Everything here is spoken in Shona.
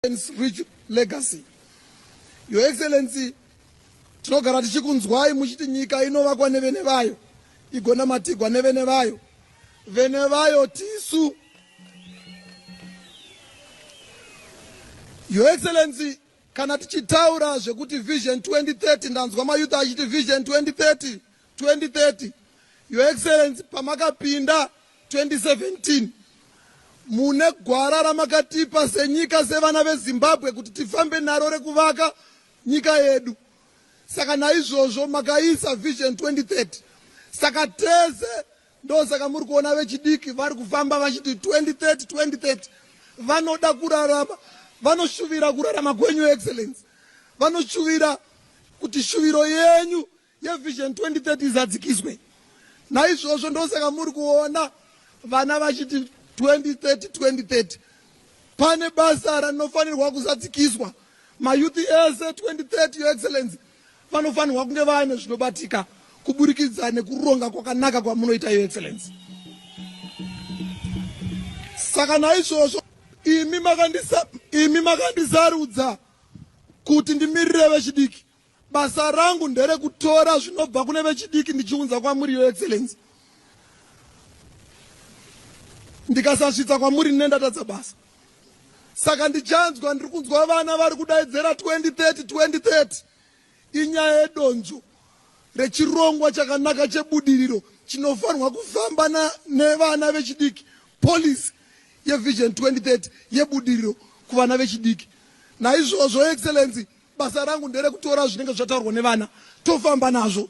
Excellency Rich Legacy. Your Excellency, tinogara tichikunzwai muchiti nyika inovakwa nevene vayo igonamatigwa nevene vayo vene vayo tisu your excellency kana tichitaura zvekuti vision 2030 ndanzwa mayouth achiti vision 2030 2030 your excellency pamakapinda 2017 mune gwara ramakatipa senyika sevana vezimbabwe kuti tifambe naro rekuvaka nyika yedu saka naizvozvo makaisa vision 2030 saka tese ndosaka muri kuona vechidiki vari kufamba vachiti 2030 2030 vanoda kurarama vanoshuvira kurarama kwenyu excellence vanoshuvira kuti shuviro yenyu yeVision 2030 izadzikiswe. Naizvozvo ndosaka muri kuona vana vachiti 2030 2030. Pane basa rinofanirwa kuzadzikiswa. Mayouth ese 2030 your excellency vanofanirwa kunge vaane zvinobatika kuburikidza nekuronga kwakanaka kwamunoita your excellency. Saka naizvozvo imi makandisa imi makandisarudza kuti ndimirire vechidiki. Basa rangu nderekutora zvinobva kune vechidiki ndichiunza kwamuri, Your Excellency. Ndikasasvitsa kwamuri ndine ndatadza basa. Saka ndichanzwa ndiri kunzwa vana vari kudaidzera 2030 2030 inyaya yedonzvo rechirongwa chakanaka chebudiriro chinofanirwa kufamba nevana vechidiki policy yeVision 2030 yebudiriro kuvana vechidiki. Naizvozvo, Excellency, basa rangu nderekutora zvinenge zvataurwa nevana tofamba nazvo.